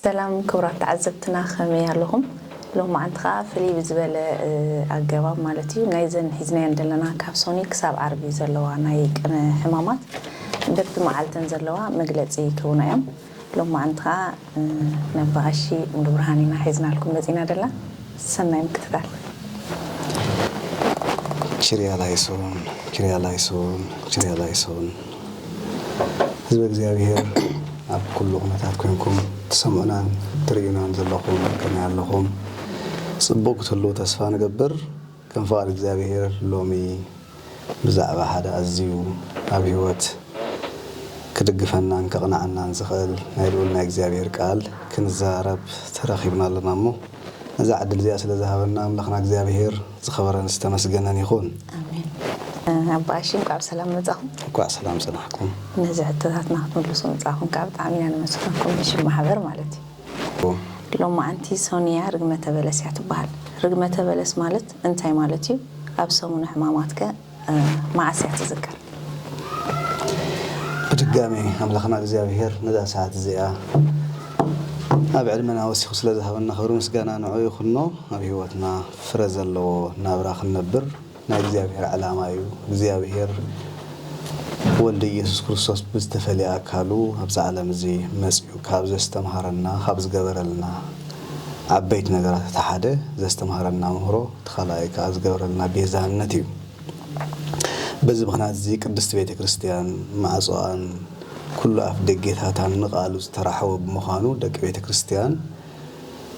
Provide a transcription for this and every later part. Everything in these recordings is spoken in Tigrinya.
ሰላም ክቡራት ተዓዘብትና ከመይ ኣለኹም ሎማዓንቲ ከኣ ፍልይ ብዝበለ ኣገባብ ማለት እዩ ናይዘን ሒዝናየን ዘለና ካብ ሶኑይ ክሳብ ዓርቢ ዘለዋ ናይ ቅነ ሕማማት በብቲ መዓልተን ዘለዋ መግለጺ ክህቡና እዮም ሎማዓንቲ ከኣ ነባቀሺ ሙሉብርሃን ኢና ሒዝናልኩም መጺና ደላ ሰናይ ምክትታል። ችርያ ላይሶን ችርያ ላይሶን ችርያ ላይሶን። ህዝበ እግዚኣብሔር ኣብ ኩሉ ኩነታት ኮንኩም ትሰምዑናን ትርእዩናን ዘለኹም ከመይ ኣለኹም? ጽቡቕ ክትህልዉ ተስፋ ንገብር። ከም ፍቓድ እግዚኣብሔር ሎሚ ብዛዕባ ሓደ ኣዝዩ ኣብ ሕይወት ክድግፈናን ከቕንዓናን ዝኽእል ናይ ልዑል ናይ እግዚኣብሔር ቃል ክንዛረብ ተረኺብና ኣለና እሞ፣ ነዛ ዕድል እዚኣ ስለ ዝሃበና ኣምላኽና እግዚኣብሄር ዝኸበረን ዝተመስገነን ይኹን። ኣሜን ኣባ ኣሺ እንቋዕ ብሰላም መጻኹም። እንኳዕ ሰላም ጸናሕኩም። ነዚ ሕቶታትና ክትምልሱ ምጻኹም ከኣ ብጣዕሚ ኢና ነመስግነኩም ብሽም ማሕበር ማለት እዩ። ብ። ሎማዕንቲ ሶንያ ርግመተ በለስ እያ ትበሃል። ርግመተ በለስ ማለት እንታይ ማለት እዩ? ኣብ ሰሙነ ሕማማት ከ መዓስ እያ ትዝከር? ብድጋሜ ኣምላኽና እግዚኣብሄር ነዛ ሰዓት እዚኣ ኣብ ዕድመና ወሲኹ ስለ ዝሃበና ክብሪ ምስጋና ንዕኡ ይኹኖ። ኣብ ህይወትና ፍረ ዘለዎ ናብራ ክንነብር ናይ እግዚኣብሄር ዕላማ እዩ። እግዚኣብሄር ወልዱ ኢየሱስ ክርስቶስ ብዝተፈልየ ኣካሉ ኣብዚ ዓለም እዚ መጺኡ ካብ ዘስተምሃረና ካብ ዝገበረልና፣ ዓበይቲ ነገራት እቲ ሓደ ዘስተምሃረና ምህሮ እቲ ካልኣይ ከኣ ዝገብረልና ቤዛነት እዩ። በዚ ምኽንያት እዚ ቅድስቲ ቤተ ክርስቲያን ማዕጾኣን ኩሉ ኣፍ ደጌታታን ንቃሉ ዝተራሕወ ብምዃኑ ደቂ ቤተ ክርስቲያን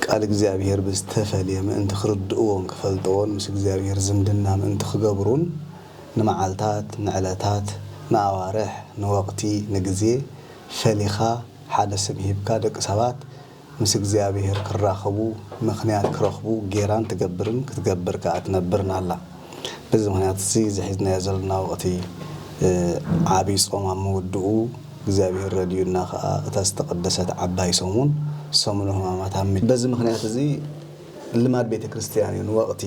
ቃል እግዚኣብሔር ብዝተፈልየ ምእንቲ ክርድእዎን ክፈልጥዎን ምስ እግዚኣብሔር ዝምድና ምእንቲ ክገብሩን ንመዓልታት ንዕለታት ንኣዋርሕ ንወቅቲ ንግዜ ፈሊኻ ሓደ ስም ሂብካ ደቂ ሰባት ምስ እግዚኣብሄር ክራኸቡ ምኽንያት ክረኽቡ ጌራን ትገብርን ክትገብር ከኣ ትነብርን ኣላ። በዚ ምኽንያት እዚ እዚ ሒዝናዮ ዘሎና ወቕቲ ዓቢይ ጾም ኣብ ምውድኡ እግዚኣብሄር ረዲኡና ከኣ እታ ዝተቐደሰት ዓባይ ሰሙን ሰሙነ ሕማማት ኣብ። በዚ ምኽንያት እዚ ልማድ ቤተ ክርስቲያን እዩ ንወቕቲ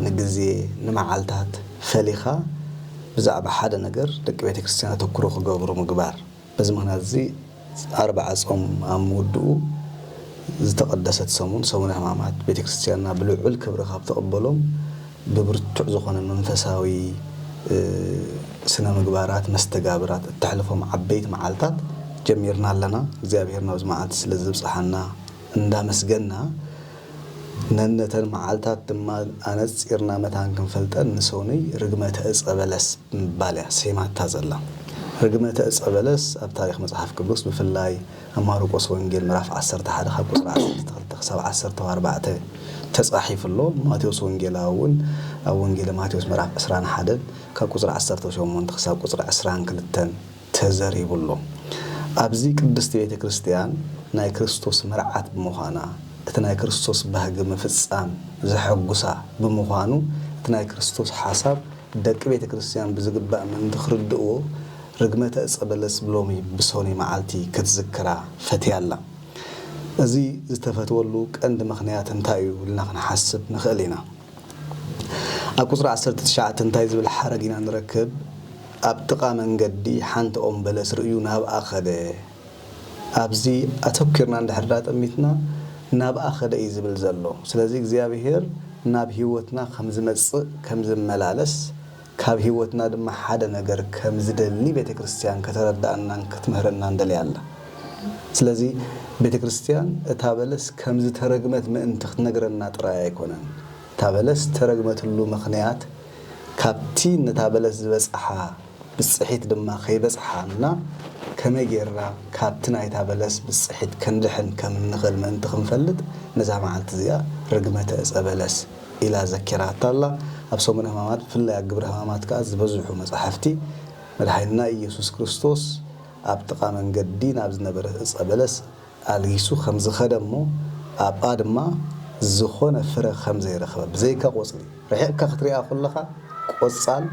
ንግዜ ንመዓልታት ፈሊኻ ብዛዕባ ሓደ ነገር ደቂ ቤተ ክርስቲያን ኣተኩሮ ክገብሩ ምግባር። በዚ ምኽንያት'ዚ ኣርብዓ ጾም ኣብ ምውድኡ ዝተቐደሰት ሰሙን፣ ሰሙነ ሕማማት፣ ቤተ ክርስቲያንና ብልዑል ክብሪ ካብ ትቕበሎም ብብርቱዕ ዝኾነ መንፈሳዊ ስነ ምግባራት መስተጋብራት እተሕልፎም ዓበይቲ መዓልታት ጀሚርና ኣለና። እግዚኣብሔር ናብዚ መዓልቲ ስለ ዘብጽሓና እንዳመስገና፣ ነነተን መዓልታት ድማ ኣነጺርና መታን ክንፈልጠን ንሰኑይ ርግመተ ዕጸ በለስ ብምባል እያ ሰይማታ ዘላ። ርግመተ ዕጸ በለስ ኣብ ታሪኽ መጽሓፍ ቅዱስ ብፍላይ ኣብ ማርቆስ ወንጌል ምዕራፍ ዓሰርተ ሓደ ካብ ቁጽሪ ዓሰርተ ክልተ ክሳብ ዓሰርተው ኣርባዕተ ተጻሒፉ ኣሎ። ማቴዎስ ወንጌላዊ እውን ኣብ ወንጌለ ማቴዎስ ምዕራፍ ዕስራን ሓደን ካብ ቁጽሪ ዓሰርተው ሸሞንተ ክሳብ ቁጽሪ ዕስራን ክልተን ተዘሪቡ ኣሎ። ኣብዚ ቅድስቲ ቤተ ክርስቲያን ናይ ክርስቶስ መርዓት ብምዃና፣ እቲ ናይ ክርስቶስ ባህጊ ምፍጻም ዘሐጉሳ ብምዃኑ፣ እቲ ናይ ክርስቶስ ሓሳብ ደቂ ቤተ ክርስቲያን ብዝግባእ ምእንቲ ክርድእዎ ርግመተ ዕፀ በለስ ብሎሚ ብሶኒ መዓልቲ ክትዝክራ ፈትያ ኣላ። እዚ ዝተፈትወሉ ቀንዲ ምኽንያት እንታይ እዩ ኢልና ክንሓስብ ንኽእል ኢና። ኣብ ቁጽሪ ዓሰርተ ትሽዓተ እንታይ ዝብል ሓረግ ኢና ንረክብ? ኣብ ጥቓ መንገዲ ሓንቲ ኦም በለስ ርእዩ ናብኣ ከደ። ኣብዚ ኣተኲርና እንድሕር ኣጠሚትና ናብኣ ከደ እዩ ዝብል ዘሎ። ስለዚ እግዚኣብሄር ናብ ህይወትና ከም ዝመጽእ ከም ዝመላለስ ካብ ሕይወትና ድማ ሓደ ነገር ከም ዝደሊ ቤተ ክርስትያን ከተረድኣናን ክትምህረናን ደልያ ኣላ። ስለዚ ቤተ ክርስትያን እታ በለስ ከም ዝተረግመት ምእንቲ ክትነግረና ጥራይ ኣይኮነን። እታ በለስ እተረግመትሉ ምኽንያት ካብቲ ነታ በለስ ዝበጽሓ ብጽሒት ድማ ከይበጽሓና ከመይ ጌርና ካብቲ ናይታ በለስ ብጽሒት ክንድሕን ከም እንኽእል ምእንቲ ክንፈልጥ ነዛ መዓልቲ እዚኣ ርግመተ ዕጸ በለስ ኢላ ዘኪራታ ኣላ። ኣብ ሰሙነ ሕማማት ብፍላይ ኣብ ግብረ ሕማማት ከኣ ዝበዝሑ መጻሕፍቲ መድሓኒና ኢየሱስ ክርስቶስ ኣብ ጥቓ መንገዲ ናብ ዝነበረ ዕጸ በለስ ኣልጊሱ ከም ዝኸደ እሞ ኣብኣ ድማ ዝኾነ ፍረ ከም ዘይረኸበ ብዘይካ ቆጽሊ ርሒቕካ ክትሪኣ ኮለኻ ቆጻል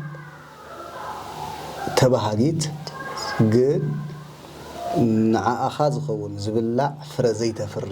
ተባሃጊት ግን ንዓኣኻ ዝኸውን ዝብላዕ ፍረ ዘይተፍሪ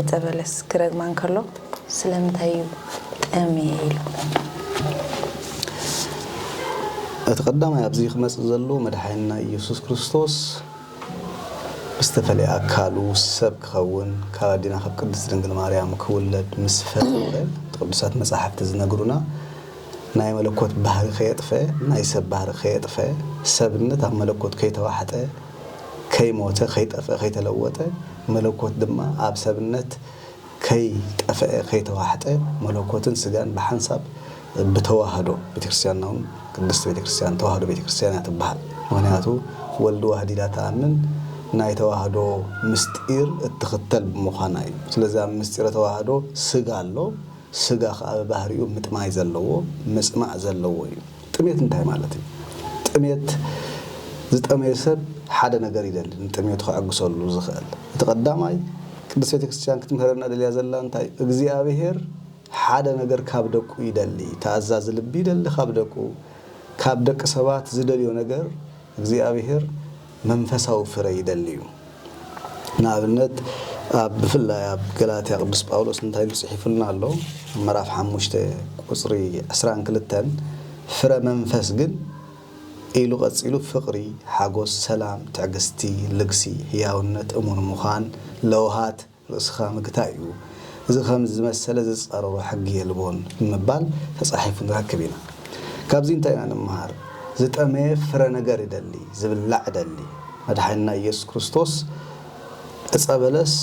ዕጸ በለስ ክረግማ እንከሎ ስለምንታይ እዩ ጠምየ ኢሉ? እቲ ቀዳማይ ኣብዚ ክመጽእ ዘለዎ መድሓኒና ኢየሱስ ክርስቶስ ብዝተፈለየ ኣካሉ ሰብ ክኸውን ካብ ኣዴና ካብ ቅድስት ድንግል ማርያም ክውለድ ምስ ፈተወ እቲ ቅዱሳት መጻሕፍቲ ዝነግሩና ናይ መለኮት ባህሪ ከየጥፈ ናይ ሰብ ባህሪ ከየጥፈ ሰብነት ኣብ መለኮት ከይተዋሕጠ ከይሞተ ከይጠፍኣ ከይተለወጠ መለኮት ድማ ኣብ ሰብነት ከይጠፍኣ ከይተዋሕጠ መለኮትን ስጋን ብሓንሳብ ብተዋህዶ ቤተክርስቲያንና ውን ቅድስት ቤተክርስቲያን ተዋህዶ ቤተክርስቲያን እያ ትብሃል ምክንያቱ ወልድ ዋህድ ኢላ ትኣምን ናይ ተዋህዶ ምስጢር እትክተል ብምኳና እዩ ስለዚ ኣብ ምስጢረ ተዋህዶ ስጋ ኣሎ ስጋ ከኣ ብባህሪኡ ምጥማይ ዘለዎ ምጽማእ ዘለዎ እዩ ጥሜት እንታይ ማለት እዩ? ጥሜት፣ ዝጠመየ ሰብ ሓደ ነገር ይደሊ፣ ንጥሜቱ ከዐግሰሉ ዝኽእል። እቲ ቀዳማይ ቅድስት ቤተ ክርስቲያን ክትምህረና ደልያ ዘላ እንታይ እዩ? እግዚኣብሔር ሓደ ነገር ካብ ደቁ ይደሊ፣ ተኣዛዚ ልቢ ይደሊ ካብ ደቁ፣ ካብ ደቂ ሰባት ዝደልዮ ነገር እግዚኣብሔር መንፈሳዊ ፍረ ይደሊ እዩ። ንኣብነት ኣብ ብፍላይ ኣብ ገላትያ ቅዱስ ጳውሎስ እንታይ ኢሉ ጽሒፉልና ኣሎ ኣብ ምዕራፍ ሓሙሽተ ቁጽሪ ዕስራን ክልተን ፍረ መንፈስ ግን ኢሉ ቀጺሉ ፍቅሪ፣ ሓጎስ፣ ሰላም፣ ትዕግስቲ፣ ልግሲ፣ ሕያውነት፣ እሙን ምዃን፣ ለውሃት፣ ርእስኻ ምግታእ እዩ፣ እዚ ከምዚ ዝመሰለ ዝጻረሮ ሕጊ የልቦን ብምባል ተጻሒፉ ንረክብ ኢና። ካብዚ እንታይ ኢና ንመሃር? ዝጠመየ ፍረ ነገር ይደሊ፣ ዝብላዕ ይደሊ። መድሓኒና ኢየሱስ ክርስቶስ ዕጸ በለስ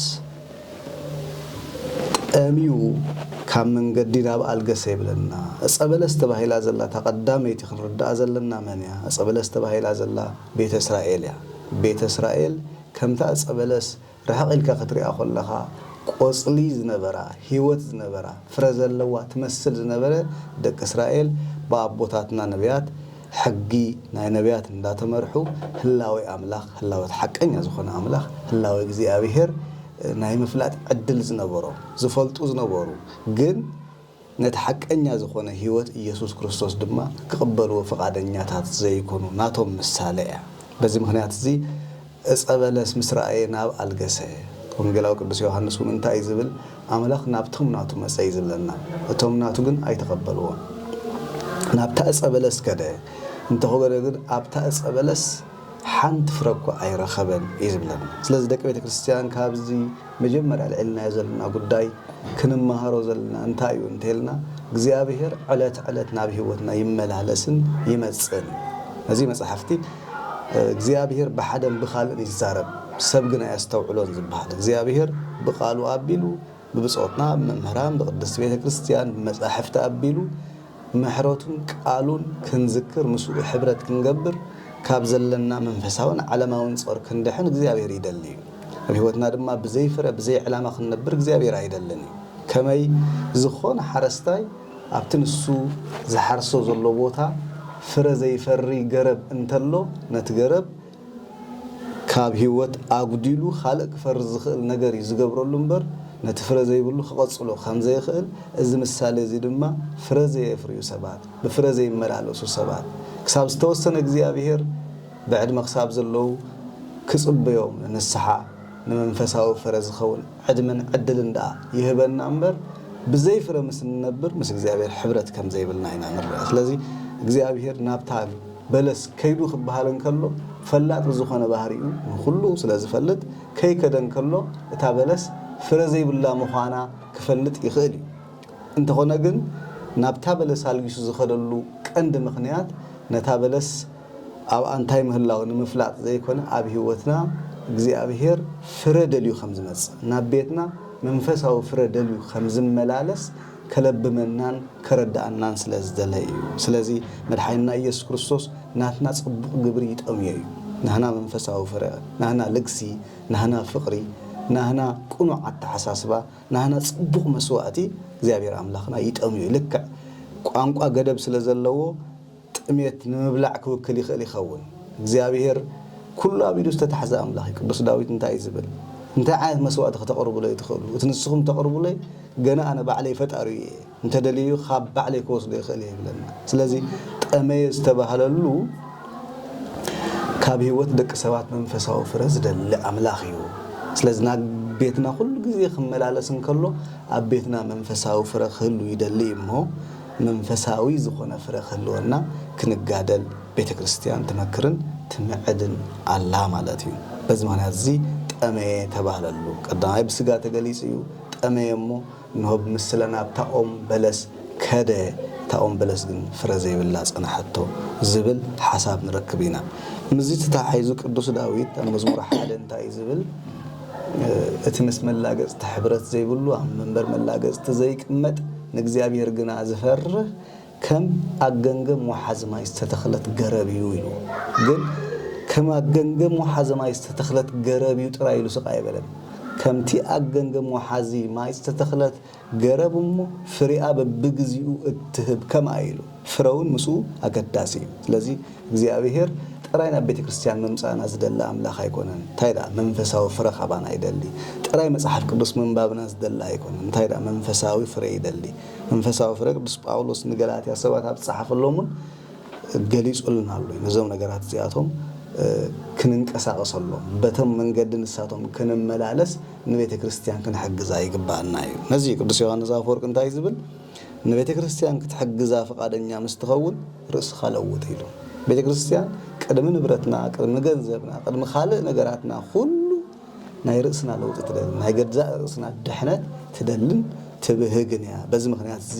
ጠምዩ ካብ መንገዲ ናብ ኣልገሰ ይብለና። ዕጸ በለስ ተባሂላ ዘላ እታ ቀዳመይቲ ክንርድኣ ዘለና መን እያ? ዕጸ በለስ ተባሂላ ዘላ ቤተ እስራኤል እያ። ቤተ እስራኤል ከምታ ዕጸ በለስ ርሕቕ ኢልካ ክትሪኣ ኮለኻ ቆጽሊ ዝነበራ ሂወት ዝነበራ ፍረ ዘለዋ ትመስል ዝነበረ ደቂ እስራኤል ብኣቦታትና ነብያት ሕጊ ናይ ነብያት እንዳተመርሑ ህላዌ ኣምላኽ ህላወ እቲ ሓቀኛ ዝኾነ ኣምላኽ ህላዌ እግዚኣብሄር ናይ ምፍላጥ ዕድል ዝነበሮም ዝፈልጡ ዝነበሩ ግን ነቲ ሓቀኛ ዝኾነ ሕይወት ኢየሱስ ክርስቶስ ድማ ክቕበልዎ ፍቓደኛታት ዘይኮኑ ናቶም ምሳለ እያ። በዚ ምኽንያት እዚ ዕፀ በለስ ምስ ረኣየ ናብ ኣልገሰ። ወንጌላዊ ቅዱስ ዮሐንስ እውን እንታይ እዩ ዝብል ኣምላኽ ናብቶም ናቱ መፀ እዩ ዝብለና እቶም ናቱ ግን ኣይተቐበልዎን። ናብታ ዕፀ በለስ ከደ እንተኾገደ ግን ኣብታ ዕፀ በለስ ሓንቲ ፍረ እኳ ኣይረኸበን እዩ ዝብለና። ስለዚ ደቂ ቤተ ክርስቲያን ካብዚ መጀመርያ ኣልዒልናዮ ዘለና ጉዳይ ክንመሃሮ ዘለና እንታይ እዩ እንተልና እግዚኣብሔር ዕለት ዕለት ናብ ሕይወትና ይመላለስን ይመጽእን ነዚ መጽሓፍቲ እግዚኣብሔር ብሓደን ብኻልእን ይዛረብ ሰብ ግን ኣያስተውዕሎን ዝበሃል እግዚኣብሔር ብቃሉ ኣቢሉ ብብጾትና ብመምህራን ብቅድስቲ ቤተ ክርስቲያን ብመጻሕፍቲ ኣቢሉ ምሕረቱን ቃሉን ክንዝክር ምስኡ ሕብረት ክንገብር ካብ ዘለና መንፈሳውን ዓለማውን ጾር ክንድሕን እግዚኣብሔር ይደሊ እዩ። ኣብ ሕይወትና ድማ ብዘይ ፍረ ብዘይ ዕላማ ክንነብር እግዚኣብሔር ኣይደልን እዩ። ከመይ ዝኾነ ሓረስታይ ኣብቲ ንሱ ዝሓርሶ ዘሎ ቦታ ፍረ ዘይፈሪ ገረብ እንተሎ ነቲ ገረብ ካብ ሂወት ኣጉዲሉ ካልእ ክፈሪ ዝኽእል ነገር እዩ ዝገብረሉ እምበር ነቲ ፍረ ዘይብሉ ክቐጽሎ ከም ዘይኽእል እዚ ምሳሌ እዚ ድማ ፍረ ዘየፍርዩ ሰባት ብፍረ ዘይመላለሱ ሰባት ክሳብ ዝተወሰነ እግዚኣብሄር ብዕድመ ክሳብ ዘለዉ ክጽበዮም ንንስሓ ንመንፈሳዊ ፍረ ዝኸውን ዕድመን ዕድልን ድኣ ይህበና እምበር ብዘይ ፍረ ምስ እንነብር ምስ እግዚኣብሄር ሕብረት ከም ዘይብልና ኢና ንርዳእ ስለዚ እግዚኣብሄር ናብታ በለስ ከይዱ ክበሃል እንከሎ ፈላጥ ብዝኾነ ባህሪኡ ንኹሉ ስለ ዝፈልጥ ከይከደ እንከሎ እታ በለስ ፍረ ዘይብላ ምዃና ክፈልጥ ይኽእል እዩ። እንተኾነ ግን ናብታ በለስ ኣልጊሱ ዝኸደሉ ቀንዲ ምኽንያት ነታ በለስ ኣብኣ እንታይ ምህላው ንምፍላጥ ዘይኮነ ኣብ ሕይወትና እግዚኣብሔር ፍረ ደልዩ ከም ዝመጽእ ናብ ቤትና መንፈሳዊ ፍረ ደልዩ ከም ዝመላለስ ከለብመናን ከረድኣናን ስለ ዝደለ እዩ። ስለዚ መድሓኒና ኢየሱስ ክርስቶስ ናትና ጽቡቕ ግብሪ ይጠምዮ እዩ። ናህና መንፈሳዊ ፍረ፣ ናህና ልግሲ፣ ናህና ፍቕሪ፣ ናህና ቅኑዕ ኣተሓሳስባ፣ ናህና ጽቡቕ መስዋእቲ እግዚኣብሔር ኣምላኽና ይጠምዮ እዩ። ልክዕ ቋንቋ ገደብ ስለ ዘለዎ፣ ጥሜት ንምብላዕ ክውክል ይኽእል ይኸውን። እግዚኣብሄር ኩሉ ኣቢሉ ዝተታሕዘ ኣምላኽ እዩ። ቅዱስ ዳዊት እንታይ እዩ ዝብል? እንታይ ዓይነት መስዋእቲ ክተቕርቡለይ ትኽእሉ? እቲ ንስኹም እተቕርቡለይ ገና ኣነ ባዕለይ ፈጣሪኡ እየ። እንተደልዩ ኻብ ባዕለይ ክወስዶ ይኽእል እየ ይብለና። ስለዚ ጠመየ ዝተባህለሉ ካብ ህይወት ደቂ ሰባት መንፈሳዊ ፍረ ዝደሊ ኣምላኽ እዩ። ስለዚ ናብ ቤትና ኩሉ ግዜ ክመላለስ እንከሎ ኣብ ቤትና መንፈሳዊ ፍረ ክህሉ ይደሊ እዩ እሞ መንፈሳዊ ዝኾነ ፍረ ክህልወና ክንጋደል ቤተ ክርስቲያን ትመክርን ትምዕድን ኣላ ማለት እዩ። በዚ ምኽንያት እዚ ጠመየ ተባህለሉ። ቀዳማይ ብስጋ ተገሊጹ እዩ፣ ጠመየ እሞ እንሆ ብምስለ ናብታ ኦም በለስ ከደ፣ እታ ኦም በለስ ግን ፍረ ዘይብላ ጸንሐቶ ዝብል ሓሳብ ንረክብ ኢና። ምስዚ ተተሓሒዙ ቅዱስ ዳዊት ኣብ መዝሙር ሓደ እንታይ እዩ ዝብል? እቲ ምስ መላገጽቲ ሕብረት ዘይብሉ ኣብ መንበር መላገጽቲ ዘይቅመጥ ንእግዚኣብሔር ግና ዝፈርህ ከም ኣብ ገምገም ወሓዚ ማይ ዝተተኽለት ገረብ እዩ ኢሉ ግን ከም ኣብ ገምገም ወሓዚ ማይ ዝተተኽለት ገረብ እዩ ጥራይ ኢሉስቅ ኣይበለን ከምቲ ኣብ ገምገም ወሓዚ ማይ ዝተተኽለት ገረብ እሞ ፍሪኣ በብግዚኡ እትህብ ከምኣ ኢሉ ፍረውን ምስኡ ኣገዳሲ እዩ ስለዚ እግዚኣብሄር ጥራይ ናብ ቤተክርስትያን ምምጻእና ዝደሊ ኣምላኽ ኣይኮነን ታይ ድኣ መንፈሳዊ ፍረ ካባና ይደሊ ጥራይ መጽሓፍ ቅዱስ ምንባብና ዝደሊ ኣይኮነን እንታይ ድኣ መንፈሳዊ ፍረ ይደሊ መንፈሳዊ ፍረ ቅዱስ ጳውሎስ ንገላትያ ሰባት ኣብ ዝጸሓፈሎም እውን ገሊጹልና ኣሎ እዩ ነዞም ነገራት እዚኣቶም ክንንቀሳቐሰሎም በቶም መንገዲ ንሳቶም ክንመላለስ ንቤተ ክርስቲያን ክንሕግዛ ይግብኣና እዩ። ነዚ እዩ ቅዱስ ዮሓንስ ኣፈወርቅ እንታይ ዝብል ንቤተ ክርስቲያን ክትሕግዛ ፍቓደኛ ምስ ትኸውን ርእስኻ ለውጥ ኢሉ። ቤተ ክርስቲያን ቅድሚ ንብረትና፣ ቅድሚ ገንዘብና፣ ቅድሚ ካልእ ነገራትና ኩሉ ናይ ርእስና ለውጢ ትደልን ናይ ገዛእ ርእስና ድሕነት ትደልን ትብህግን እያ። በዚ ምክንያት እዚ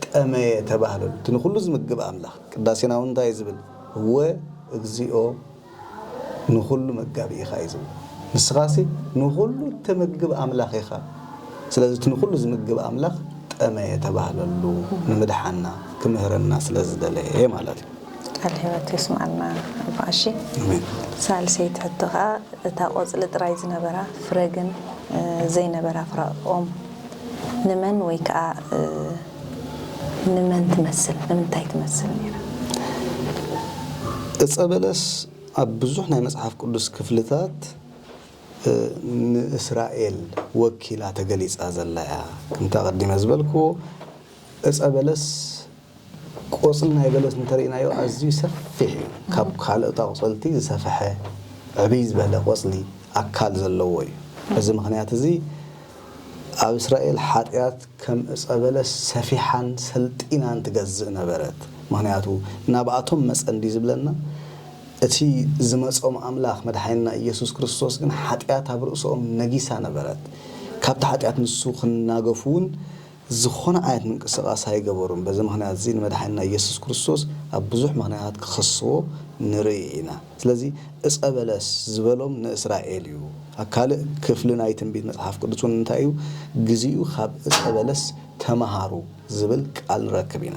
ጠመየ ተባህለሉ እቲ ንኩሉ ዝምግብ ኣምላኽ። ቅዳሴና እውን እንታይ እዩ ዝብል እወ እግዚኦ ንኹሉ መጋቢ ኢኻ እዩ ዝብሎ። ንስኻሲ ንኹሉ እተመግብ ኣምላኽ ኢኻ። ስለዚ እቲ ንኹሉ ዝምግብ ኣምላኽ ጠመየ ተባህለሉ፣ ንምድሓና ክምህረና ስለ ዝደለየ ማለት እዩ። ቃል ህይወት የስምዓልና ኣባ ቀሺ። ኣሜን። ሳልሰይቲ ሕቶ ከኣ እታ ቆጽሊ ጥራይ ዝነበራ ፍረ ግን ዘይነበራ ፍረ ኦም ንመን ወይ ከኣ ንመን ትመስል ንምንታይ ትመስል ነይራ? ዕፀ በለስ ኣብ ብዙሕ ናይ መጽሓፍ ቅዱስ ክፍልታት ንእስራኤል ወኪላ ተገሊጻ ዘላ እያ። ከምቲ ኣቐዲመ ዝበልክዎ ዕፀ በለስ ቆጽሊ ናይ በለስ እንተርኢናዮ ኣዝዩ ሰፊሕ እዩ። ካብ ካልኦት ኣቑጸልቲ ዝሰፈሐ ዕብይ ዝበለ ቆጽሊ ኣካል ዘለዎ እዩ። በዚ ምኽንያት እዚ ኣብ እስራኤል ሓጢኣት ከም ዕጸ በለስ ሰፊሓን ሰልጢናን ትገዝእ ነበረት ምክንያቱ ናብኣቶም መጸ እንድዩ ዝብለና እቲ ዝመጾም ኣምላክ መድሓኒና ኢየሱስ ክርስቶስ ግን ሓጢኣት ኣብ ርእሶኦም ነጊሳ ነበረት ካብቲ ሓጢኣት ንሱ ክናገፉ ውን ዝኮነ ዓይነት ምንቅስቃስ ኣይገበሩን በዚ ምክንያት እዚ ንመድሓኒና ኢየሱስ ክርስቶስ ኣብ ብዙሕ ምክንያታት ክከስዎ ንርኢ ኢና። ስለዚ ዕጸ በለስ ዝበሎም ንእስራኤል እዩ። ካልእ ክፍሊ ናይ ትንቢት መጽሓፍ ቅዱስ እውን እንታይ እዩ? ግዚኡ ኻብ ዕጸ በለስ ተመሃሩ ዝብል ቃል ንረክብ ኢና።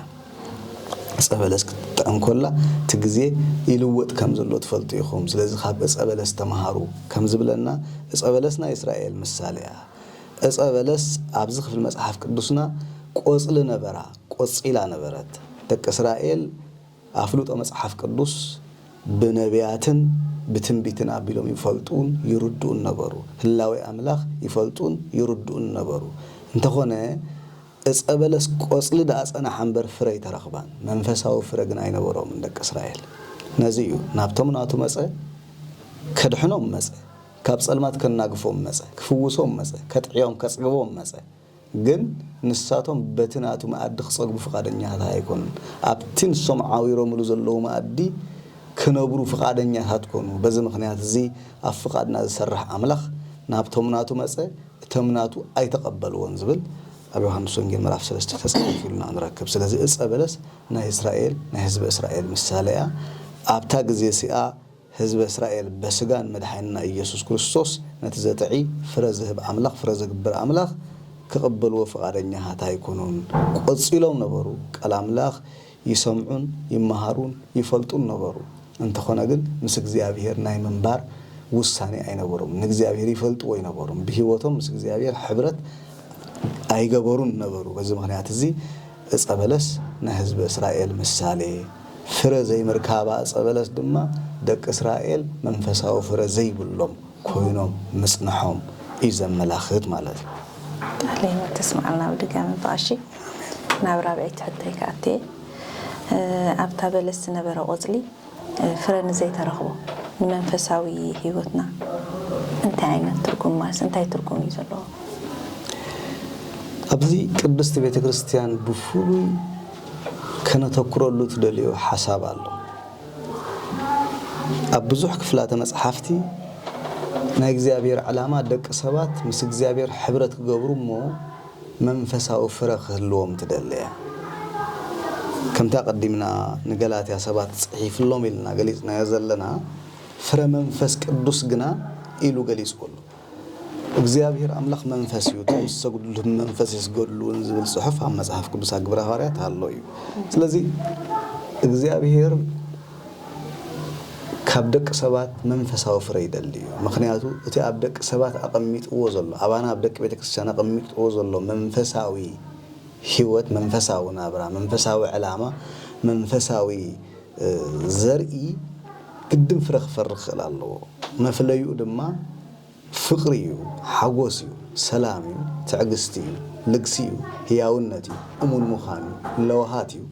ዕጸ በለስ ክትጥዕም ከላ እቲ ግዜ ይልወጥ ከም ዘሎ ትፈልጡ ኢኹም። ስለዚ ኻብ ዕጸ በለስ ተመሃሩ ከም ዝብለና ዕጸ በለስ ናይ እስራኤል ምሳሌ እያ። ዕጸ በለስ ኣብዚ ክፍሊ መጽሓፍ ቅዱስና ቆጽሊ ነበራ፣ ቆጺላ ነበረት። ደቂ እስራኤል፣ ኣፍልጦ መጽሓፍ ቅዱስ ብነብያትን ብትንቢትን ኣቢሎም ይፈልጡን ይርድኡን ነበሩ። ህላዌ ኣምላኽ ይፈልጡን ይርድኡን ነበሩ። እንተኾነ እጸ በለስ ቆጽሊ ደኣ ጸነሓ እምበር ፍረ ኣይተረኽባን። መንፈሳዊ ፍረ ግን ኣይነበሮምን ደቂ እስራኤል። ነዚ እዩ ናብቶም ናቱ መጸ፣ ከድሕኖም መጸ፣ ካብ ጸልማት ከናግፎም መጸ፣ ክፍውሶም መጸ፣ ከጥዕዮም ከጽግቦም መጸ። ግን ንሳቶም በቲ ናቱ መኣዲ ክጸግቡ ፍቓደኛታት ኣይኮኑን። ኣብቲ ንሶም ዓዊሮምሉ ዘለዉ መኣዲ ክነብሩ ፍቓደኛታት ኮኑ። በዚ ምኽንያት እዚ ኣብ ፍቓድና ዝሰርሕ ኣምላኽ ናብቶም ናቱ መጸ እቶም ናቱ ኣይተቐበልዎን ዝብል ኣብ ዮሃንስ ወንጌል ምዕራፍ ሰለስተ ተጻሒፉልና ንረክብ። ስለዚ እጸ በለስ ናይ እስራኤል ናይ ህዝበ እስራኤል ምሳለ እያ። ኣብታ ግዜ እሲኣ። ህዝበ እስራኤል በስጋ ንመድሓኒና ኢየሱስ ክርስቶስ ነቲ ዘጥዒ ፍረ ዝህብ ኣምላኽ ፍረ ዘግብር ኣምላኽ ክቕበልዎ ፍቓደኛሃት ኣይኮኑን ቆጺሎም ነበሩ ቃል ኣምላኽ ይሰምዑን ይመሃሩን ይፈልጡን ነበሩ እንተኾነ ግን ምስ እግዚኣብሔር ናይ ምንባር ውሳኔ ኣይነበሮምን ንእግዚኣብሔር ይፈልጥዎ ኣይነበሩን ብሕይወቶም ምስ እግዚኣብሔር ሕብረት ኣይገበሩን ነበሩ በዚ ምኽንያት እዚ ዕጸ በለስ ናይ ህዝበ እስራኤል ምሳሌ ፍረ ዘይምርካባ ዕጸ በለስ ድማ ደቂ እስራኤል መንፈሳዊ ፍረ ዘይብሎም ኮይኖም ምጽንሖም እዩ ዘመላኽት ማለት እዩ። ቃለ ህይወት ተስምዓልና ብድጋሚ ብቐሺ። ናብ ራብዐይቲ ሕቶይ ክኣቱ እየ። ኣብታ በለስ ዝነበረ ቆጽሊ ፍረ ንዘይተረኽቦ ንመንፈሳዊ ህይወትና እንታይ ዓይነት ትርጉም ማለት እንታይ ትርጉም እዩ ዘለዎ? ኣብዚ ቅድስት ቤተክርስትያን ብፍሉይ ከነተኩረሉ ትደልዮ ሓሳብ ኣሎ። ኣብ ብዙሕ ክፍላተ መጽሓፍቲ ናይ እግዚኣብሔር ዕላማ ደቂ ሰባት ምስ እግዚኣብሔር ሕብረት ክገብሩ እሞ መንፈሳዊ ፍረ ክህልዎም ትደሊ እያ። ከምቲ ኣቀዲምና ንገላትያ ሰባት ጽሒፍሎም ኢልና ገሊጽናዮ ዘለና ፍረ መንፈስ ቅዱስ ግና ኢሉ ገሊጽዎ ኣሎ። እግዚኣብሄር ኣምላኽ መንፈስ እዩ፣ እቶም ዝሰግዱሉ ብመንፈስ ይስገዱሉ እውን ዝብል ጽሑፍ ኣብ መጽሓፍ ቅዱስ ኣብ ግብረ ሃዋርያት ኣሎ እዩ። ስለዚ እግዚኣብሄር ካብ ደቂ ሰባት መንፈሳዊ ፍረ ይደሊ እዩ። ምክንያቱ እቲ ኣብ ደቂ ሰባት ኣቐሚጥዎ ዘሎ ኣባና ኣብ ደቂ ቤተ ክርስቲያን ኣቐሚጥዎ ዘሎ መንፈሳዊ ህይወት፣ መንፈሳዊ ናብራ፣ መንፈሳዊ ዕላማ፣ መንፈሳዊ ዘርኢ ግድን ፍረ ክፈሪ ክኽእል ኣለዎ። መፍለይኡ ድማ ፍቕሪ እዩ፣ ሓጎስ እዩ፣ ሰላም እዩ፣ ትዕግስቲ እዩ፣ ልግሲ እዩ፣ ህያውነት እዩ፣ እሙን ምዃን እዩ፣ ለውሃት እዩ፣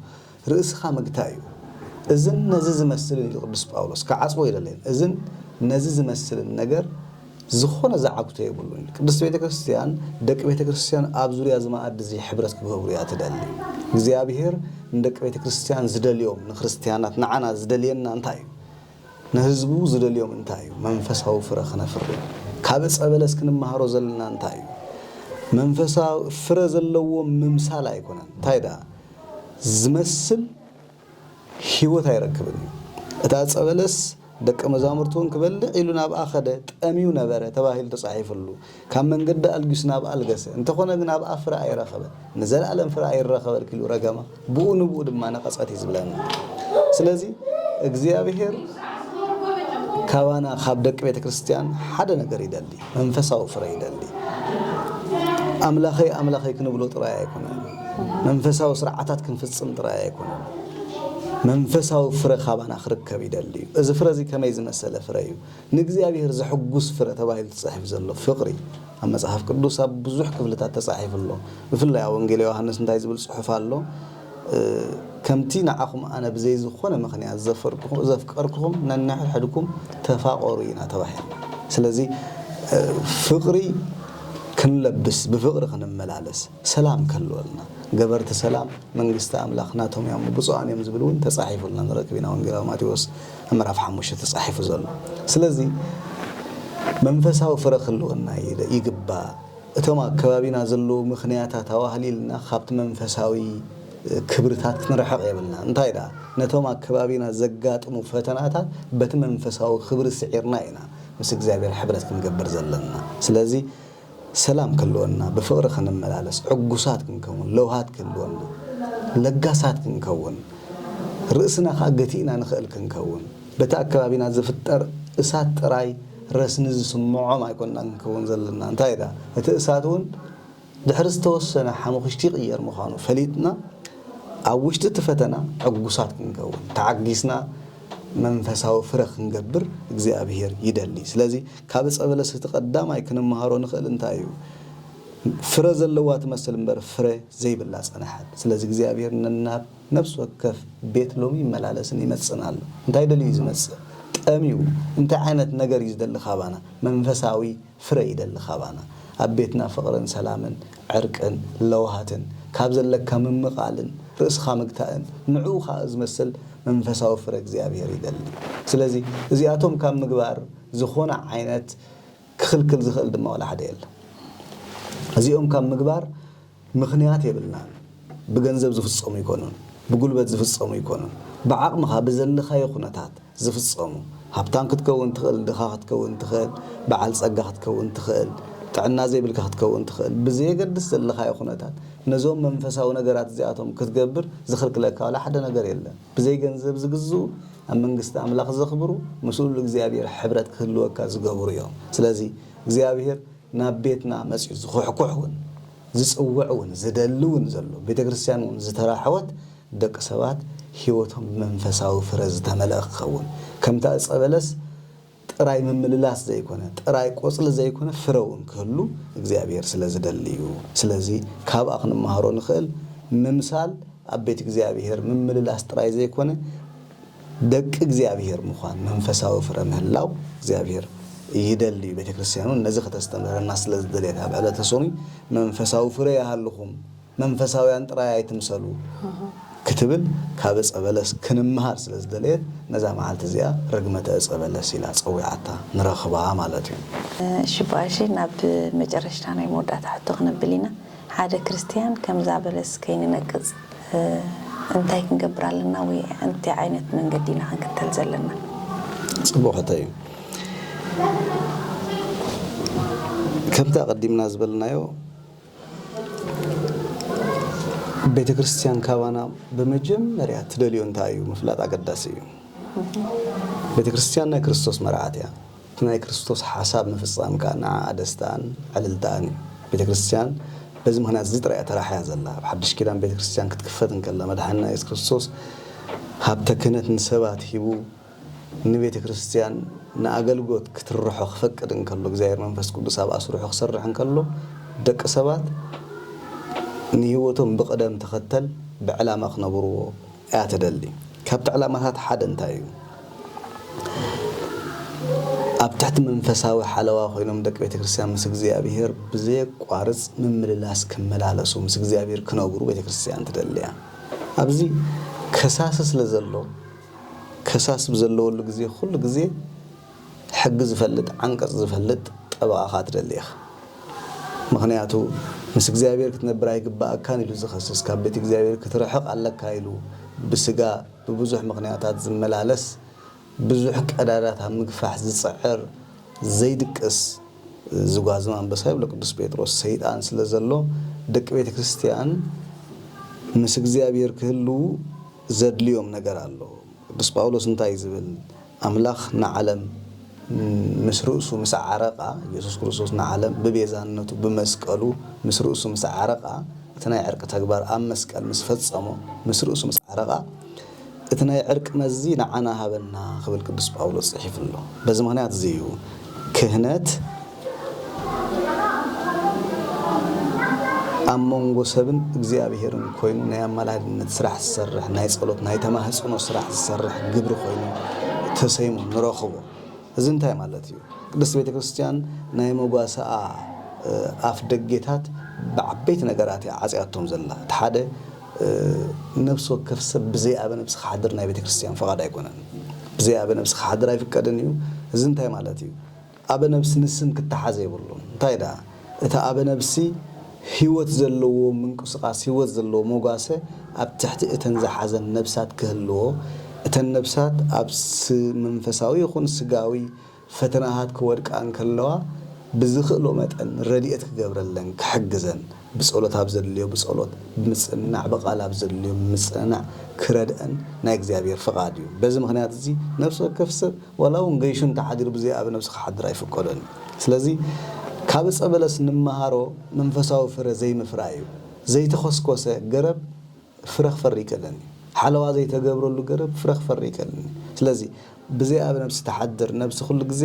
ርእስኻ ምግታእ እዩ። እዝን ነዚ ዝመስልን ኢሉ ቅዱስ ጳውሎስ ክዓጽዎ ኣይደለየን። እዝን ነዚ ዝመስልን ነገር። ዝኾነ ዝዓግቶ የብሉን ኢሉ። ቅድስት ቤተ ክርስቲያን ደቂ ቤተ ክርስቲያን ኣብ ዙርያ እዚ መኣዲ እዚ ሕብረት ክገብሩ እያ ትደሊ። እግዚኣብሔር ንደቂ ቤተ ክርስቲያን ዝደልዮም ንክርስትያናት ንዓና ዝደልየና እንታይ እዩ? ንህዝቡ ዝደልዮም እንታይ እዩ? መንፈሳዊ ፍረ ክነፍሪ። ካብ ዕፀ በለስ ክንመሃሮ ዘለና እንታይ እዩ? መንፈሳዊ ፍረ ዘለዎ ምምሳል ኣይኮነን እንታይ ደኣ ዝመስል ህይወት ኣይረክብን እዩ። እታ ዕፀ በለስ ደቀ መዛሙርቱ እውን ክበልዕ ኢሉ ናብኣ ከደ፣ ጠምዩ ነበረ ተባሂሉ ተፃሒፍሉ፣ ካብ መንገዲ ኣልጊሱ ናብኣ ኣልገሰ፣ እንተኾነ ግን ኣብኣ ፍረ ኣይረኸበን፣ ንዘለኣለም ፍረ ኣይረኸበልኪ ኢሉ ረገማ፣ ብኡ ንብኡ ድማ ነቐፀት እዩ ዝብለና። ስለዚ እግዚኣብሄር ካባና ካብ ደቂ ቤተ ክርስቲያን ሓደ ነገር ይደሊ። መንፈሳዊ ፍረ ይደሊ። ኣምላኸይ ኣምላኸይ ክንብሎ ጥራይ ኣይኮነን፣ መንፈሳዊ ስርዓታት ክንፍጽም ጥራይ ኣይኮነን፣ መንፈሳዊ ፍረ ካባና ክርከብ ይደሊ እዩ። እዚ ፍረ እዚ ከመይ ዝመሰለ ፍረ እዩ? ንእግዚኣብሔር ዘሕጉስ ፍረ ተባሂሉ ተጻሒፉ ዘሎ ፍቕሪ ኣብ መጽሓፍ ቅዱስ ኣብ ብዙሕ ክፍልታት ተጻሒፉ ኣሎ። ብፍላይ ኣብ ወንጌል ዮሃንስ እንታይ ዝብል ጽሑፍ ኣሎ? ከምቲ ንዓኹም ኣነ ብዘይ ዝኾነ ምኽንያት ዘፍቀርኩኹም ነንሕድሕድኩም ተፋቐሩ ኢና ተባሂልና። ስለዚ ፍቕሪ ክንለብስ ብፍቕሪ ክንመላለስ ሰላም ክህልወልና ገበርቲ ሰላም መንግስቲ ኣምላኽ ናቶም እዮም ብፁዓን እዮም ዝብል እውን ተጻሒፉልና ንረክብ ኢና ወንጌላዊ ማቴዎስ ምዕራፍ ሓሙሽተ ተጻሒፉ ዘሎ ስለዚ መንፈሳዊ ፍረ ክህልወና ይግባእ። እቶም ኣብ ከባቢና ዘለዉ ምኽንያታት ኣዋህሊልና ካብቲ መንፈሳዊ ክብርታት ክንርሕቕ የብልናን። እንታይ ደኣ፣ ነቶም ኣብ ከባቢና ዘጋጥሙ ፈተናታት በቲ መንፈሳዊ ክብሪ ስዒርና ኢና ምስ እግዚኣብሔር ሕብረት ክንገብር ዘለና። ስለዚ ሰላም ክህልወና፣ ብፍቕሪ ክንመላለስ፣ ዕጉሳት ክንከውን፣ ለውሃት ክህልወና፣ ለጋሳት ክንከውን፣ ርእስና ከኣ ገቲእና ንኽእል ክንከውን፣ በቲ ኣብ ከባቢና ዝፍጠር እሳት ጥራይ ረስኒ ዝስምዖም ኣይኮናን ክንከውን ዘለና፣ እንታይ ደኣ እቲ እሳት እውን ድሕሪ ዝተወሰነ ሓሙኽሽቲ ይቕየር ምዃኑ ፈሊጥና ኣብ ውሽጢ እቲ ፈተና ዕጉሳት ክንከውን ተዓጊስና መንፈሳዊ ፍረ ክንገብር እግዚኣብሄር ይደሊ። ስለዚ ካብ ዕፀ በለስ እቲ ቀዳማይ ክንመሃሮ ንኽእል እንታይ እዩ? ፍረ ዘለዋ ትመስል እምበር ፍረ ዘይብላ ፀንሐት። ስለዚ እግዚኣብሄር ነናብ። ነፍሲ ወከፍ ቤት ሎሚ ይመላለስን ይመጽእን ኣሎ። እንታይ ደልዩ እዩ ዝመጽእ? ጠምዩ። እንታይ ዓይነት ነገር እዩ ዝደሊ ካባና? መንፈሳዊ ፍረ ይደሊ ካባና። ኣብ ቤትና ፍቕርን ሰላምን ዕርቅን ለውሃትን፣ ካብ ዘለካ ምምቓልን ርእስኻ ምግታእን ንዕኡ ከኣ ዝመስል መንፈሳዊ ፍረ እግዚኣብሔር ይደሊ። ስለዚ እዚኣቶም ካብ ምግባር ዝኾነ ዓይነት ክኽልክል ዝኽእል ድማ ዋላ ሓደ የለን። እዚኦም ካብ ምግባር። ምኽንያት የብልናን ብገንዘብ ዝፍጸሙ ኣይኮኑን ብጉልበት ዝፍጸሙ ኣይኮኑን ብዓቕምኻ ብዘለኻዮ ኩነታት ዝፍጸሙ ሃብታም ክትከውን ትኽእል ድኻ ክትከውን ትኽእል በዓል ጸጋ ክትከውን ትኽእል ጥዕና ዘይብልካ ክትከውን ትኽእል ብዘየገድስ ዘለኻዮ ኩነታት ነዞም መንፈሳዊ ነገራት እዚኣቶም ክትገብር ዝኽልክለካ ዋላ ሓደ ነገር የለን ብዘይ ገንዘብ ዝግዝኡ ኣብ መንግስቲ ኣምላኽ ዘኽብሩ ምስ ሉል እግዚኣብሔር ሕብረት ክህልወካ ዝገብሩ እዮም ስለዚ እግዚኣብሔር ናብ ቤትና መጺኡ ዝኹሕኩሕ ውን ዝጽውዕ ውን ዝደሊ ውን ዘሎ ቤተ ክርስትያን ውን ዝተራሕወት ደቂ ሰባት ሕይወቶም ብመንፈሳዊ ፍረ ዝተመልኣ ክኸውን ከምታ ዕጸ በለስ ጥራይ ምምልላስ ዘይኮነ ጥራይ ቆጽሊ ዘይኮነ ፍረ ውን ክህሉ እግዚኣብሔር ስለ ዝደሊ እዩ ስለዚ ካብኣ ክንመሃሮ ንኽእል ምምሳል ኣብ ቤት እግዚኣብሔር ምምልላስ ጥራይ ዘይኮነ ደቂ እግዚኣብሔር ምዃን መንፈሳዊ ፍረ ምህላው እግዚኣብሔር ይደሊ እዩ ቤተ ክርስቲያን እውን ነዚ ከተስተምህረና ስለ ዝደልየት ኣብ ዕለተ ሶኑይ መንፈሳዊ ፍረ ይሃልኹም መንፈሳውያን ጥራይ ኣይትምሰሉ ክትብል ካብ ዕፀ በለስ ክንምሃር ስለ ዝደለየት ነዛ መዓልቲ እዚኣ ርግመተ ዕፀ በለስ ኢላ ፀዊዓታ ንረኽባ ማለት እዩ። እሺ እባ እሺ ናብ መጨረሽታ ናይ መወዳእታ ሕቶ ክነብል ኢና ሓደ ክርስቲያን ከምዛ በለስ ከይንነቅፅ እንታይ ክንገብር ኣለና ወይ ኣንታይ ዓይነት መንገዲ ኢና ክንክተል ዘለና? ጽቡቕ ሕቶ እዩ። ከምቲ ኣቐዲምና ዝበልናዮ ቤተ ክርስትያን ካባና ብመጀመርያ ትደልዮ እንታይ እዩ ምፍላጥ ኣገዳሲ እዩ። ቤተ ክርስትያን ናይ ክርስቶስ መርዓት እያ። እቲ ናይ ክርስቶስ ሓሳብ ምፍጻም ከኣ ንዓኣ ደስታኣን ዕልልታኣን እዩ። ቤተ ክርስቲያን በዚ ምኽንያት እዚ ጥራይ እያ ተራሕያ ዘላ። ኣብ ሓድሽ ኪዳን ቤተ ክርስቲያን ክትክፈት እንከላ መድሓኒና የሱስ ክርስቶስ ሃብተ ክህነት ንሰባት ሂቡ ንቤተ ክርስቲያን ንኣገልጎት ክትርሖ ክፈቅድ እንከሎ እግዚኣብሔር መንፈስ ቅዱስ ኣብ ኣስርሑ ክሰርሕ እንከሎ ደቂ ሰባት ንህይወቶም ብቕደም ተኸተል ብዕላማ ክነብርዎ እያ ትደሊ። ካብቲ ዕላማታት ሓደ እንታይ እዩ? ኣብ ትሕቲ መንፈሳዊ ሓለዋ ኮይኖም ደቂ ቤተ ክርስቲያን ምስ እግዚኣብሔር ብዘየቋርጽ ምምልላስ ክመላለሱ፣ ምስ እግዚኣብሔር ክነብሩ ቤተ ክርስቲያን ትደሊ እያ። ኣብዚ ከሳሲ ስለ ዘሎ ከሳሲ ብዘለወሉ ግዜ ኩሉ ግዜ ሕጊ ዝፈልጥ ዓንቀጽ ዝፈልጥ ጠበቓኻ ትደሊ ኢኻ ምኽንያቱ ምስ እግዚኣብሔር ክትነብር ኣይግበኣካን ኢሉ ዝኸስስ ካብ ቤት እግዚኣብሔር ክትርሕቕ ኣለካ ኢሉ ብስጋ ብብዙሕ ምኽንያታት ዝመላለስ ብዙሕ ቀዳዳት ኣብ ምግፋሕ ዝጽዕር ዘይድቅስ ዝጓዝም ኣንበሳ ይብሎ ቅዱስ ጴጥሮስ ሰይጣን ስለ ዘሎ ደቂ ቤተ ክርስቲያን ምስ እግዚኣብሔር ክህልዉ ዘድልዮም ነገር ኣሎ ቅዱስ ጳውሎስ እንታይ እዩ ዝብል ኣምላኽ ንዓለም ምስ ርእሱ ምስ ኣዕረቓ፣ ኢየሱስ ክርስቶስ ንዓለም ብቤዛነቱ ብመስቀሉ ምስ ርእሱ ምስ ኣዕረቓ፣ እቲ ናይ ዕርቂ ተግባር ኣብ መስቀል ምስ ፈጸሞ ምስ ርእሱ ምስ ኣዕረቓ፣ እቲ ናይ ዕርቂ መዚ ንዓና ሃበና ክብል ቅዱስ ጳውሎስ ጽሒፉ ኣሎ። በዚ ምኽንያት እዚ እዩ ክህነት፣ ኣብ መንጎ ሰብን እግዚኣብሔርን ኮይኑ ናይ ኣማላድነት ስራሕ ዝሰርሕ ናይ ጸሎት ናይ ተማህጽኖ ስራሕ ዝሰርሕ ግብሪ ኮይኑ ተሰይሙ ንረኽቦ። እዚ እንታይ ማለት እዩ? ቅድስት ቤተ ክርስቲያን ናይ መጓሰኣ ኣፍ ደጌታት ብዓበይቲ ነገራት እያ ዓጽያቶም ዘላ። እቲ ሓደ ነብሲ ወከፍ ሰብ ብዘይ ኣበ ነብሲ ክሓድር ናይ ቤተ ክርስቲያን ፍቓድ ኣይኮነን። ብዘይ ኣበ ነብሲ ክሓድር ኣይፍቀድን እዩ። እዚ እንታይ ማለት እዩ? ኣበ ነብሲ ንስም ክተሓዝ የብሉን እንታይ ደኣ እቲ ኣበ ነብሲ ሂወት ዘለዎ ምንቁስቃስ ሂወት ዘለዎ መጓሰ ኣብ ትሕቲ እተን ዝሓዘን ነብሳት ክህልዎ እተን ነብሳት ኣብ መንፈሳዊ ይኹን ስጋዊ ፈተናታት ክወድቃ እንከለዋ ብዝኽእሎ መጠን ረዲኤት ክገብረለን ክሕግዘን ብጸሎት ኣብ ዘድልዮ ብጸሎት ብምጽንናዕ ብቓል ኣብ ዘድልዮ ብምጽንናዕ ክረድእን ናይ እግዚኣብሔር ፍቓድ እዩ። በዚ ምኽንያት እዚ ነፍሲ ወከፍ ሰብ ዋላ እውን ገይሹ እንተ ሓዲሩ ብዘይ ኣብ ነብሱ ክሓድር ኣይፍቀዶን እዩ። ስለዚ ካብ እጸ በለስ ንመሃሮ መንፈሳዊ ፍረ ዘይምፍራይ እዩ። ዘይተኾስኮሰ ገረብ። ፍረ ክፈሪ ይከለኒ ሓለዋ ዘይተገብረሉ ገረብ ፍረ ክፈሪ ይከልኒ ስለዚ ብዘይ ኣብ ነብሲ ትሓድር ነብሲ ኩሉ ግዜ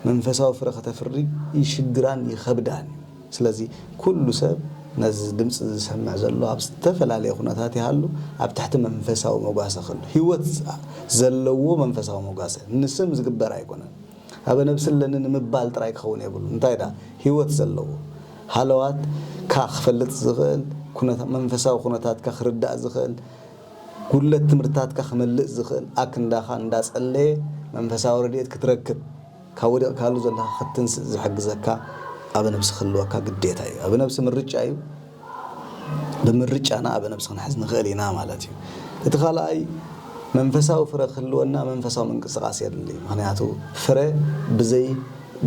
መንፈሳዊ ፍረ ከተፍሪ ይሽግራን ይኸብዳን እዩ ስለዚ ኩሉ ሰብ ነዚ ድምጺ ዝሰምዕ ዘሎ ኣብ ዝተፈላለየ ኩነታት ይሃሉ ኣብ ትሕቲ መንፈሳዊ መጓሰ ክህሉ ሂወት ዘለዎ መንፈሳዊ መጓሰ ንስም ዝግበር ኣይኮነን ኣበ ነብሲ ኣለኒ ንምባል ጥራይ ክኸውን የብሉን እንታይ ደኣ ሂወት ዘለዎ ሃለዋት ካ ክፈልጥ ዝኽእል ኩነታ መንፈሳዊ ኩነታትካ ክርዳእ ዝኽእል ጉድለት ትምህርትታትካ ክመልእ ዝኽእል ኣክንዳኻ እንዳ ጸለየ መንፈሳዊ ረድኤት ክትረክብ ካብ ወዲቕካሉ ዘለኻ ክትትንስእ ዝሕግዘካ ኣበ ነብሲ ክህልወካ ግዴታ እዩ ኣበ ነብሲ ምርጫ እዩ ብምርጫና ኣብ ነብሲ ክንሕዝ ንኽእል ኢና ማለት እዩ። እቲ ካልኣይ መንፈሳዊ ፍረ ክህልወና መንፈሳዊ ምንቅስቃስ የድሊ። ምክንያቱ ፍረ ብዘይ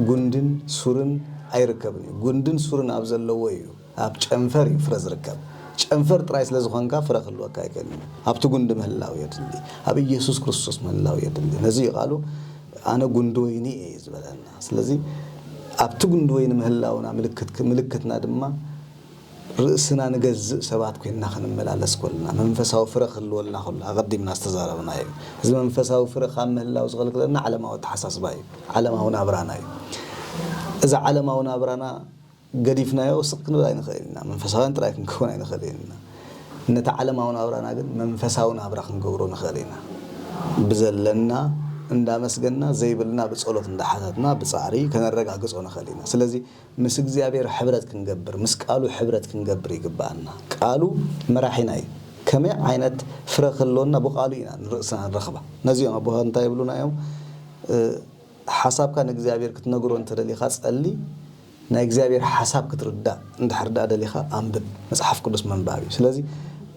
ጉንድን ሱርን ኣይርከብን እዩ። ጉንድን ሱርን ኣብ ዘለዎ እዩ ኣብ ጨንፈር እዩ ፍረ ዝርከብ። ጨንፈር ጥራይ ስለ ዝኾንካ ፍረ ክህልወካ ኣይክእልን እዩ። ኣብቲ ጉንዲ ምህላው የድሊ። ኣብ ኢየሱስ ክርስቶስ ምህላው የድሊ። ነዚ እዩ ቃሉ ኣነ ጉንዲ ወይኒ እየ ዝበለና። ስለዚ ኣብቲ ጉንድወይ ንምህላውና ምልክት ምልክትና ድማ ርእስና ንገዝእ ሰባት ኮይንና ክንመላለስ ኮልና መንፈሳዊ ፍረ ክህልወልና ከሎ ኣቐዲምና ዝተዛረብናዮ እዩ። እዚ መንፈሳዊ ፍረ ካብ ምህላው ዝኸልክለና ዓለማዊ ኣተሓሳስባ እዩ፣ ዓለማዊ ናብራና እዩ። እዚ ዓለማዊ ናብራና ገዲፍናዮ ስቕ ክንብል ኣይንኽእልን ኢና፣ መንፈሳውያን ጥራይ ክንከውን ኣይንኽእልን ኢና፣ ነቲ ዓለማዊ ናብራና ግን መንፈሳዊ ናብራ ክንገብሮ ንኽእል ኢና። ብዘለና እንዳመስገንና፣ ዘይብልና ብጸሎት እንዳሓተትና፣ ብጻዕሪ ከነረጋግጾ ንኽእል ኢና። ስለዚ ምስ እግዚኣብሔር ሕብረት ክንገብር፣ ምስ ቃሉ ሕብረት ክንገብር ይግብኣና። ቃሉ መራሒና እዩ። ከመይ ዓይነት ፍረ ክህልወና ብቃሉ ኢና ንርእስና ንረኽባ። ነዚ እዮም ኣቦታት እንታይ ይብሉና እዮም፣ ሓሳብካ ንእግዚኣብሔር ክትነግሮ እንተደሊኻ ጸሊ፣ ናይ እግዚኣብሔር ሓሳብ ክትርዳእ እንድሕር ድኣ ደሊኻ ኣንብብ መጽሓፍ ቅዱስ ምንባብ እዩ ስለዚ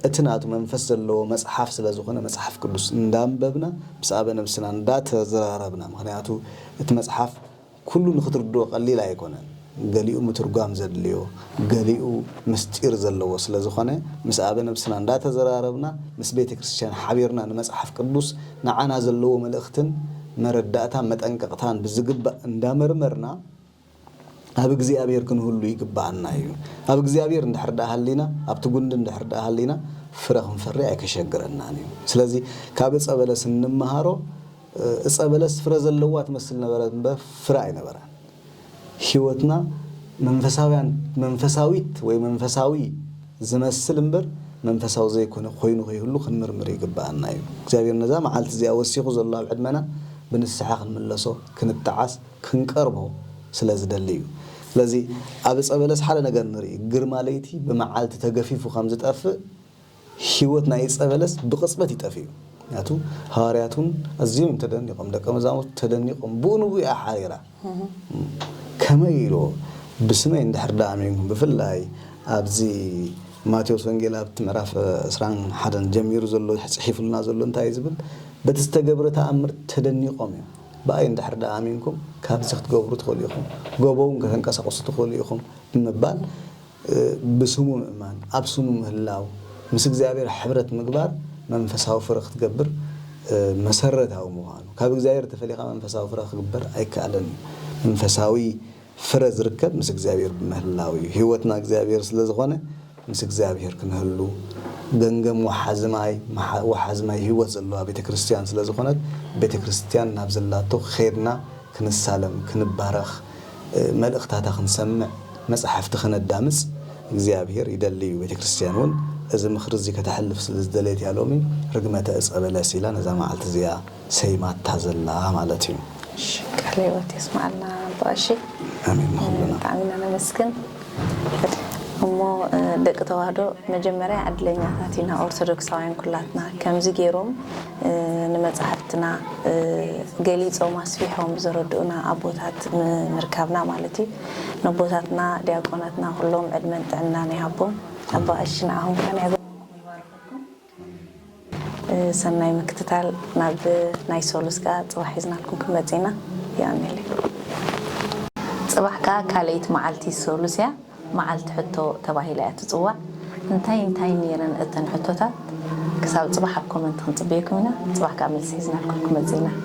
እቲ ናቱ መንፈስ ዘለዎ መጽሓፍ ስለ ዝኾነ መጽሓፍ ቅዱስ እንዳንበብና ምስ ኣበ ነብስና እንዳ ተዘራረብና ምኽንያቱ እቲ መጽሓፍ ኩሉ ንኽትርድኦ ቀሊል ኣይኮነን ገሊኡ ምትርጓም ዘድልዮ ገሊኡ ምስጢር ዘለዎ ስለ ዝኾነ ምስ ኣበ ነብስና እንዳ ተዘራረብና ምስ ቤተ ክርስትያን ሓቢርና ንመጽሓፍ ቅዱስ ንዓና ዘለዎ መልእኽትን መረዳእታ መጠንቀቕታን ብዝግባእ እንዳመርመርና ኣብ እግዚኣብሔር ክንህሉ ይግብኣና እዩ። ኣብ እግዚኣብሔር እንድሕር ድኣ ሃሊና፣ ኣብቲ ጉንዲ እንድሕር ድኣ ሃሊና ፍረ ክንፈሪ ኣይከሸግረናን እዩ። ስለዚ ካብ ዕፀ በለስ እንመሃሮ ዕፀ በለስ ፍረ ዘለዋ ትመስል ነበረት እምበር ፍረ ኣይነበራን። ህይወትና መንፈሳውያን መንፈሳዊት ወይ መንፈሳዊ ዝመስል እምበር መንፈሳዊ ዘይኮነ ኮይኑ ከይህሉ ክንምርምር ይግብኣና እዩ። እግዚኣብሔር ነዛ መዓልቲ እዚኣ ወሲኹ ዘሎ ኣብ ዕድመና ብንስሓ ክንምለሶ ክንጠዓስ ክንቀርቦ ስለ ዝደሊ እዩ። ስለዚ ኣብ እፀ በለስ ሓደ ነገር ንርኢ ግርማ ለይቲ ብመዓልቲ ተገፊፉ ከም ዝጠፍእ ህይወት ናይ እፀ በለስ ብቕፅበት ይጠፍእ እዩ። ምክንያቱ ሃዋርያት እውን ኣዝዮም እዮም ተደኒቖም ደቀ መዛሙርቱ ተደኒቖም ብኡ ንብኡ እያ ሓሪራ ከመይ ኢሉ ብስመይ እንድሕር ደኣ ኣሚንኩም ብፍላይ ኣብዚ ማቴዎስ ወንጌል ኣብቲ ምዕራፍ ዕስራን ሓደን ጀሚሩ ዘሎ ፅሒፉልና ዘሎ እንታይ እዩ ዝብል በቲ ዝተገብረ ተኣምር ተደኒቖም እዮም። ብኣይ እንድሕር ደኣ ኣሚንኩም ካብዚ ክትገብሩ ትኽእሉ ኢኹም፣ ጎቦውን ከተንቀሳቕሱ ትኽእሉ ኢኹም ብምባል ብስሙ ምእማን፣ ኣብ ስሙ ምህላው፣ ምስ እግዚኣብሔር ሕብረት ምግባር መንፈሳዊ ፍረ ክትገብር መሰረታዊ ምዃኑ፣ ካብ እግዚኣብሔር ተፈሊኻ መንፈሳዊ ፍረ ክግበር ኣይከኣልን፣ መንፈሳዊ። ፍረ ዝርከብ ምስ እግዚኣብሔር ብምህላው እዩ። ሕይወትና እግዚኣብሔር ስለ ዝኾነ ምስ እግዚኣብሔር ክንህሉ ገንገም ወሓዚ ማይ ወሓዚ ማይ ሕይወት ዘለዋ ቤተ ክርስቲያን ስለ ዝኾነት ቤተ ክርስቲያን ናብ ዘላቶ ኼድና ክንሳለም ክንባረኽ መልእኽታታ ክንሰምዕ መጻሕፍቲ ከነዳምጽ እግዚኣብሔር ይደሊ እዩ። ቤተ ክርስቲያን እውን እዚ ምኽሪ እዚ ከተሕልፍ ስለ ዝደለየት እያ ሎሚ ርግመተ ዕፀ በለስ ኢላ ነዛ መዓልቲ እዚኣ ሰይማታ ዘላ ማለት እዩ። እሺ ቃለ ህይወት የስመዓልና ኣባ ቀሺ ኣሜን ንኹልና። ብጣዕሚ ኢና ነመስግን እሞ ደቂ ተዋህዶ መጀመርያ ዕድለኛታት ኢና ኦርቶዶክሳውያን ኩላትና ከምዚ ጌሮም ንመጻሕፍትና ገሊጾም ኣስፊሖም ዘረድኡና ኣቦታት ምርካብና ማለት እዩ ነቦታትና ዲያቆናትና ኩሎም ዕድመን ጥዕናን ይሃቦም ኣባ ቀሺ ንዓኹም ከኣ ናይ ባዕልኩም ይባርኸኩም። ሰናይ ምክትታል ናብ ናይ ሶሉስ ከኣ ጽባሕ ሒዝናልኩም ክንመጽእ ኢና ይኣሚለይ። ጽባሕ ከኣ ካልኣይቲ መዓልቲ ሶሉስ እያ መዓልቲ ሕቶ ተባሂላ እያ ትጽዋዕ እንታይ እንታይ ኔረን እተን ሕቶታት ክሳብ ጽባሕ ኣብ ኮመንት ክንጽበየኩም ኢና ጽባሕ ከኣ መልሲ ሒዝናልኩም ክንመጽእ ኢና።